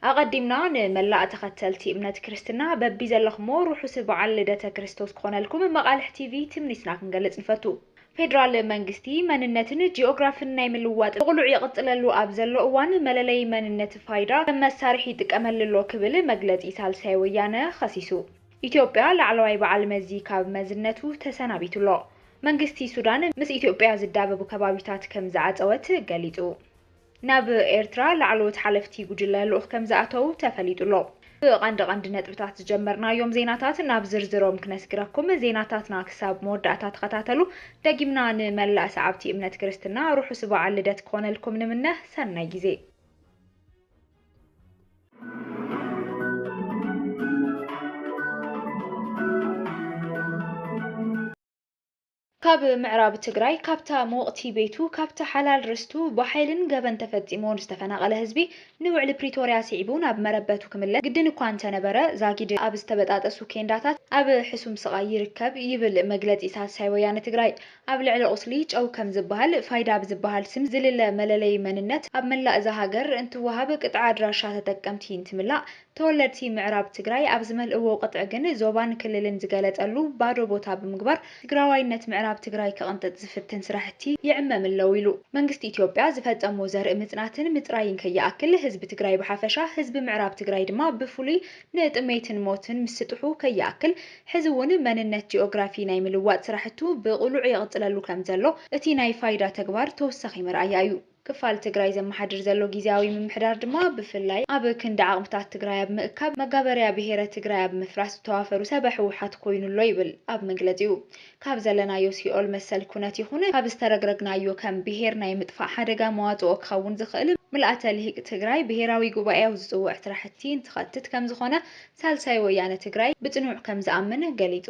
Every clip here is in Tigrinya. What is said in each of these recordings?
ኣቐዲምና ንመላእ ተኸተልቲ እምነት ክርስትና በቢዘለኹሞ ርሑስ በዓል ልደተ ክርስቶስ ክኾነልኩም መቓልሕ ቲቪ ትምኒትና ክንገልጽ ንፈቱ። ፌድራል መንግስቲ መንነትን ጂኦግራፍን ናይ ምልዋጥ ብቕሉዕ ይቕጽለሉ ኣብ ዘሎ እዋን መለለዪ መንነት ፋይዳ ከም መሳርሒ ይጥቀመል'ሎ ክብል መግለጺ ሳልሳይ ወያነ ኸሲሱ። ኢትዮጵያ ላዕለዋይ በዓል መዚ ካብ መዝነቱ ተሰናቢቱ'ሎ። መንግስቲ ሱዳን ምስ ኢትዮጵያ ዝዳበቡ ከባቢታት ከም ዝዓጸወት ገሊጹ። ናብ ኤርትራ ላዕለዎት ሓለፍቲ ጉጅለ ልኡኽ ከምዝኣተዉ ተፈሊጡ'ሎ። ብቐንዲ ቐንዲ ነጥብታት ዝጀመርናዮም ዜናታት ናብ ዝርዝሮም ክነስግረኩም፣ ዜናታትና ክሳብ መወዳእታ ተኸታተሉ፣ ደጊምና ንመላእ ሰዓብቲ እምነት ክርስትና ርሑስ በዓል ልደት ክኾነልኩም ንምነ፣ ሰናይ ጊዜ። ካብ ምዕራብ ትግራይ ካብታ ምውቕቲ ቤቱ ካብቲ ሓላል ርስቱ ብሓይልን ገበን ተፈፂምዎን ዝተፈናቐለ ህዝቢ ንውዕሊ ፕሪቶርያ ስዒቡ ናብ መረበቱ ክምለስ ግድን እኳ እንተነበረ ዛጊድ ኣብ ዝተበጣጠሱ ኬንዳታት ኣብ ሕሱም ስቓይ ይርከብ ይብል መግለፂ ሳልሳይ ወያነ ትግራይ። ኣብ ልዕሊ ቑስሊ ጨው ከም ዝበሃል ፋይዳ ብዝበሃል ስም ዝልለ መለለዪ መንነት ኣብ መላእ እዛ ሃገር እንትወሃብ ቅጥዒ ኣድራሻ ተጠቀምቲ እንትምላእ ተወለድቲ ምዕራብ ትግራይ ኣብ ዝመልእዎ ቅጥዒ ግን ዞባን ክልልን ዝገለፀሉ ባዶ ቦታ ብምግባር ትግራዋይነት ምዕራብ ትግራይ ክቕንጥጥ ዝፍትን ስራሕቲ ይዕመም'ለው ኢሉ። መንግስቲ ኢትዮጵያ ዝፈፀሞ ዘርኢ ምፅናትን ምፅራይን ከይኣክል ህዝቢ ትግራይ ብሓፈሻ ህዝቢ ምዕራብ ትግራይ ድማ ብፍሉይ ንጥሜትን ሞትን ምስጥሑ ከይኣክል ሕዚ እውን መንነት ጂኦግራፊ ናይ ምልዋጥ ስራሕቱ ብቕሉዕ የቕፅለሉ ከምዘሎ እቲ ናይ ፋይዳ ተግባር ተወሳኺ መርኣያ እዩ። ክፋል ትግራይ ዘመሓድር ዘሎ ጊዚያዊ ምምሕዳር ድማ ብፍላይ ኣብ ክንዲ ዓቕምታት ትግራይ ኣብ ምእካብ መጋበርያ ብሄረ ትግራይ ኣብ ምፍራስ ዝተዋፈሩ ሰበ ህወሓት ኮይኑ ኣሎ ይብል ኣብ መግለፂኡ። ካብ ዘለናዮ ሲኦል መሰል ኩነት ይኹን ካብ ዝተረግረግናዮ ከም ብሄር ናይ ምጥፋእ ሓደጋ መዋፅኦ ክኸውን ዝኽእል ምልኣተ ልሂቅ ትግራይ ብሄራዊ ጉባኤኡ ዝፅውዕ ስራሕቲ እንትኸትት ከምዝኾነ ሳልሳይ ወያነ ትግራይ ብፅኑዕ ከምዝኣምን ገሊፁ።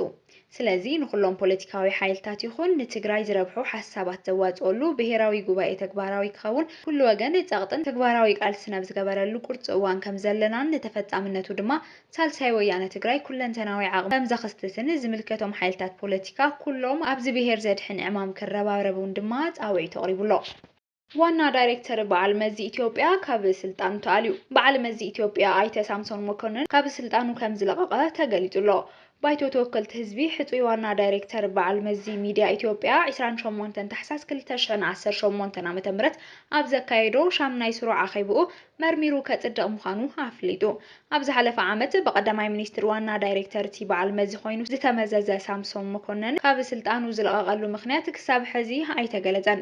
ስለዚ ንኹሎም ፖለቲካዊ ሓይልታት ይኹን ንትግራይ ዝረብሑ ሓሳባት ዘዋፅኦሉ ብሄራዊ ጉባኤ ተግባራዊ ክኸውን ኩሉ ወገን ፀቕጥን ተግባራዊ ቃልስን ኣብ ዝገበረሉ ቁርፂ እዋን ከምዘለናን ንተፈፃምነቱ ድማ ሳልሳይ ወያነ ትግራይ ኩለንተናዊ ዓቕሙ ከምዘኽስትትን ዝምልከቶም ሓይልታት ፖለቲካ ኩሎም ኣብዚ ብሄር ዘድሕን ዕማም ክረባረቡን ድማ ፃውዒቱ ኣቕሪቡ ኣሎ። ዋና ዳይሬክተር በዓል መዚ ኢትዮጵያ ካብ ስልጣኑ ተኣልዩ። በዓል መዚ ኢትዮጵያ ኣይተ ሳምሶን መኮንን ካብ ስልጣኑ ከምዝለቐቐ ተገሊፁ'ሎ። ባይቶ ተወከልቲ ህዝቢ ሕፁይ ዋና ዳይሬክተር በዓል መዚ ሚድያ ኢትዮጵያ ዕስራን ሸሞንተን ታሕሳስ ክልተ ሽሕን ዓሰርተ ሸሞንተን ዓመተ ምህረት ኣብ ዘካየዶ ሻምናይ ስሩዕ ኣኼብኡ መርሚሩ ከፅድቕ ምዃኑ ኣፍሊጡ። ኣብ ዝሓለፈ ዓመት ብቀዳማይ ሚኒስትር ዋና ዳይሬክተር'ቲ በዓል መዚ ኮይኑ ዝተመዘዘ ሳምሶም መኮንን ካብ ስልጣኑ ዝለቐቐሉ ምኽንያት ክሳብ ሕዚ ኣይተገለፀን።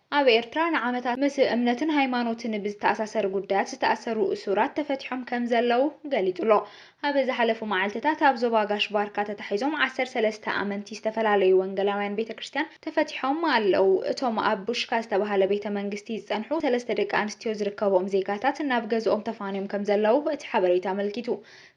ኣብ ኤርትራ ንዓመታት ምስ እምነትን ሃይማኖትን ብዝተኣሳሰር ጉዳያት ዝተኣሰሩ እሱራት ተፈቲሖም ከምዘለዉ ገሊጹ'ሎ። ኣብ ዝሓለፉ መዓልቲታት ኣብ ዞባ ጋሽ ባርካ ተታሒዞም ዓሰርተ ሰለስተ ኣመንቲ ዝተፈላለዩ ወንገላውያን ቤተ ክርስትያን ተፈቲሖም ኣለዉ። እቶም ኣብ ቡሽካ ዝተባህለ ቤተ መንግስቲ ዝጸንሑ ሰለስተ ደቂ ኣንስትዮ ዝርከብኦም ዜጋታት ናብ ገዝኦም ተፋንዮም ከምዘለዉ እቲ ሓበሬታ ኣመልኪቱ።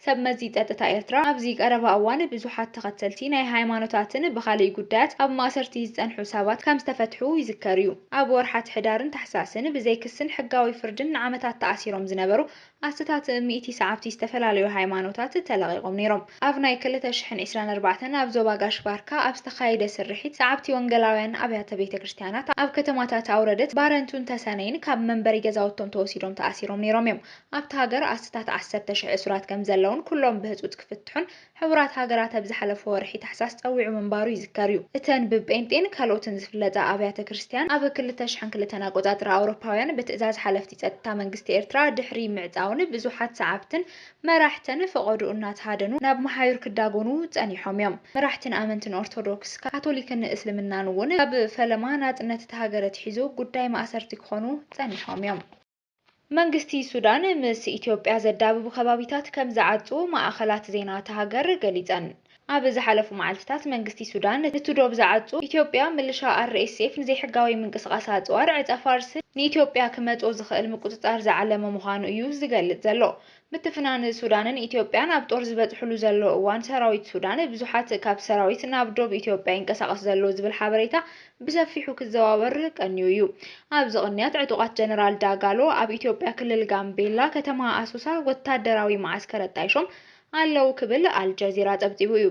ሰብመዚ ጸጥታ ኤርትራ፣ ኣብዚ ቀረባ እዋን ብዙሓት ተኸተልቲ ናይ ሃይማኖታትን ብኻልእ ጉዳያት ኣብ ማእሰርቲ ዝጸንሑ ሰባት ከም ዝተፈትሑ ይዝከር'ዩ። ኣብ ወርሓት ሕዳርን ታሕሳስን ብዘይ ክስን ሕጋዊ ፍርድን ንዓመታት ተኣሲሮም ዝነበሩ ኣስታት ሚእቲ ሰዓብቲ ዝተፈላለዩ ሃይማኖታት ተለቒቖም ነይሮም። ኣብ ናይ ክልተ ሽሕን ዕስራን ኣርባዕተን ኣብ ዞባ ጋሽ-ባርካ ኣብ ዝተኻየደ ስርሒት፣ ሰዓብቲ ወንገላውያን ኣብያተ ቤተክርስትያናት ኣብ ከተማታት ኣውረደት፣ ባረንቱን ተሰነይን ካብ መንበሪ ገዛውቶም ተወሲዶም ተኣሲሮም ነይሮም'ዮም። ኣብታ ሃገር ኣስታት ዓሰርተ ሽሕ እሱራት ከምዘለዉን ኩሎም ብህጹጽ ክፍትሑን ሕቡራት ሃገራት ኣብ ዝሓለፈ ወርሒ ታሕሳስ ጸዊዑ ምንባሩ ይዝከር'ዩ። እተን ብጴንጤን ካልኦትን ዝፍለጣ ኣብያተ ክርስትያን ኣብ ክልተ ሽሕን ክልተን ኣቆጻጽራ ኣውሮፓውያን ብትእዛዝ ሓለፍቲ ጸጥታ መንግስቲ ኤርትራ ድሕሪ ምዕጻውን ብዙሓት ሰዓብትን መራሕተን ፈቖድኡ እናተሃደኑ ናብ መሓዩር ክዳጎኑ ጸኒሖም'ዮም። መራሕትን ኣመንትን ኦርቶዶክስ፣ ካቶሊክን እስልምናን'ውን ካብ ፈለማ ናጽነት እታ ሃገር ኣትሒዙ ጉዳይ ማእሰርቲ ክኾኑ ጸኒሖም'ዮም። መንግስቲ ሱዳን ምስ ኢትዮጵያ ዘዳብቡ ከባቢታት ከም ዝዓጹ ማእኸላት ዜና እታ ሃገር ገሊፀን። ኣብ ዝሓለፉ መዓልቲታት መንግስቲ ሱዳን እቲ ዶብ ዝዓጹ ኢትዮጵያ ምልሻ RSF ንዘይሕጋዊ ምንቅስቓስ ኣፅዋር ዕፀ-ፋርስን ንኢትዮጵያ ክመፆ ዝኽእል ምቁፅፃር ዝዓለመ ምዃኑ እዩ ዝገልፅ ዘሎ። ምትፍናን ሱዳንን ኢትዮጵያን ኣብ ጦር ዝበፅሕሉ ዘሎ እዋን ሰራዊት ሱዳን ብዙሓት ካብ ሰራዊት ናብ ዶብ ኢትዮጵያ ይንቀሳቐስ ዘሎ ዝብል ሓበሬታ ብሰፊሑ ክዘዋወር ቀንዩ እዩ። ኣብዚ ቅንያት ዕጡቓት ጀነራል ዳጋሎ ኣብ ኢትዮጵያ ክልል ጋምቤላ ከተማ ኣሶሳ ወታደራዊ መዓስከር ኣጣይሾም ኣለው ክብል ኣልጀዚራ ፀብፂቡ እዩ።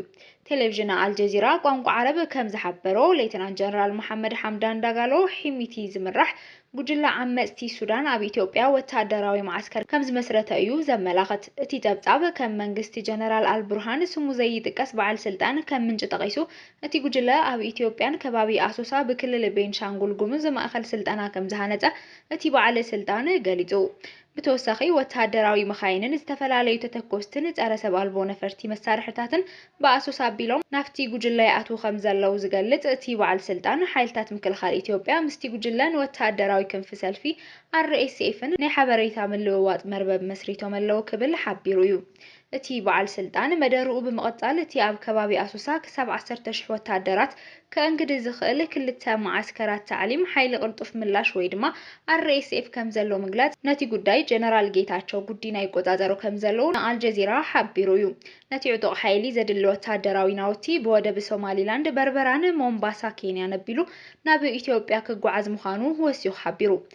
ቴሌቪዥን ኣልጀዚራ ቋንቋ ዓረብ ከም ዝሓበሮ ሌተናንት ጀነራል መሓመድ ሓምዳን ዳጋሎ ሒሚቲ ዝምራሕ ጉጅለ ዓመጽቲ ሱዳን ኣብ ኢትዮጵያ ወተሃደራዊ መዓስከር ከም ዝመስረተ እዩ ዘመላኽት። እቲ ጸብጻብ፣ ከም መንግስቲ ጀነራል ኣልቡርሃን ስሙ ዘይጥቀስ በዓል ስልጣን ከም ምንጪ ጠቒሱ፣ እቲ ጉጅለ ኣብ ኢትዮጵያን ከባቢ ኣሶሳ ብክልል ቤንሻንጉል ጉሙዝ ማእከል ስልጠና ከም ዝሃነጸ እቲ በዓል ስልጣን ገሊጹ። ብተወሳኺ ወተሃደራዊ መኻይንን ዝተፈላለዩ ተተኮስትን ፀረ ሰብ ኣልቦ ነፈርቲ መሳርሕታትን ብኣሶሳ ኣቢሎም ናብቲ ጉጅለ ይኣትዉ ከምዘለዉ ዝገልፅ እቲ በዓል ስልጣን፣ ሓይልታት ምክልኻል ኢትዮጵያ ምስቲ ጉጅለን ወተሃደራዊ ክንፊ ሰልፊ RSF-ን ናይ ሓበሬታ ምልውዋጥ መርበብ መስሪቶም'ለዉ ክብል ሓቢሩ እዩ። እቲ በዓል ስልጣን መደርኡ ብምቕፃል እቲ ኣብ ከባቢ ኣሶሳ ክሳብ ዓሰርተ ሽሕ ወታደራት ከእንግድ ዝኽእል ክልተ መዓስከራት ታዕሊም ሓይሊ ቅልጡፍ ምላሽ ወይ ድማ RSF ከምዘሎ ምግላፅ ነቲ ጉዳይ ጀነራል ጌታቸው ጉዲና ይቆፃፀሮ ከምዘለው ንኣልጀዚራ ሓቢሩ እዩ። ነቲ ዕጡቕ ሓይሊ ዘድሊ ወታደራዊ ናውቲ ብወደብ ሶማሊላንድ በርበራን ሞምባሳ ኬንያን ኣቢሉ ናብ ኢትዮጵያ ክጓዓዝ ምዃኑ ወሲኹ ሓቢሩ።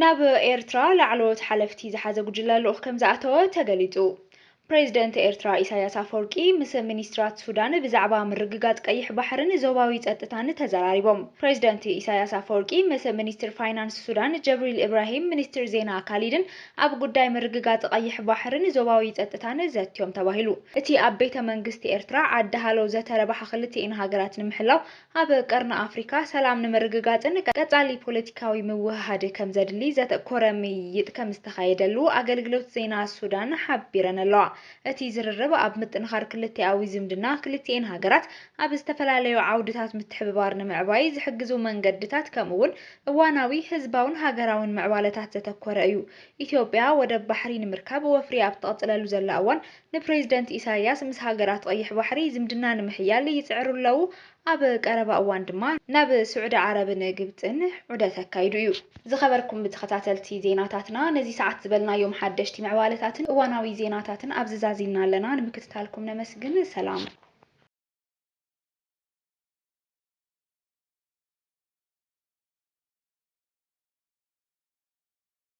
ናብ ኤርትራ ላዕለዎት ሓለፍቲ ዝሓዘ ጉጅለ ልኡኽ ከምዝኣተወ ተገሊጹ። ፕሬዝደንት ኤርትራ ኢሳይያስ ኣፈወርቂ ምስ ሚኒስትራት ሱዳን ብዛዕባ ምርግጋጽ ቀይሕ ባሕርን ዞባዊ ጸጥታን ተዘራሪቦም። ፕሬዝደንት ኢሳይያስ ኣፈወርቂ ምስ ሚኒስትር ፋይናንስ ሱዳን ጀብሪል ኢብራሂም ሚኒስትር ዜና ካሊድን ኣብ ጉዳይ ምርግጋጽ ቐይሕ ባሕርን ዞባዊ ጸጥታን ዘትዮም ተባሂሉ። እቲ ኣብ ቤተ መንግስቲ ኤርትራ ዓዲ ሃሎ ዘተረባሓ ክልቲኤን ሃገራት ንምሕላው ኣብ ቀርኒ ኣፍሪካ ሰላም ንምርግጋፅን ቀፃሊ ፖለቲካዊ ምውህሃድ ከምዘድሊ ዘተኮረ ምይይጥ ከምዝተኻየደሉ ኣገልግሎት ዜና ሱዳን ሓቢረን ኣለዋ። እቲ ዝርርብ ኣብ ምጥንኻር ክልቲኣዊ ዝምድና ክልቲኤን ሃገራት ኣብ ዝተፈላለዩ ዓውድታት ምትሕብባር ንምዕባይ ዝሕግዙ መንገድታት ከምኡ እውን እዋናዊ ህዝባውን ሃገራውን ምዕባለታት ዘተኮረ እዩ። ኢትዮጵያ ወደብ ባሕሪ ንምርካብ ወፍሪ ኣብ እተቕፅለሉ ዘላ እዋን ንፕሬዝደንት ኢሳይያስ ምስ ሃገራት ቐይሕ ባሕሪ ዝምድና ንምሕያል ይጽዕሩ ኣለዉ፣ ኣብ ቀረባ እዋን ድማ ናብ ስዑዲ ዓረብን ግብጽን ዑደት ኣካይዱ እዩ። ዝኸበርኩም ተኸታተልቲ ዜናታትና ነዚ ሰዓት ዝበልናዮም ሓደሽቲ ምዕባለታትን እዋናዊ ዜናታትን ኣብዚ ዛዚምና ኣለና፣ ንምክትታልኩም ነመስግን። ሰላም።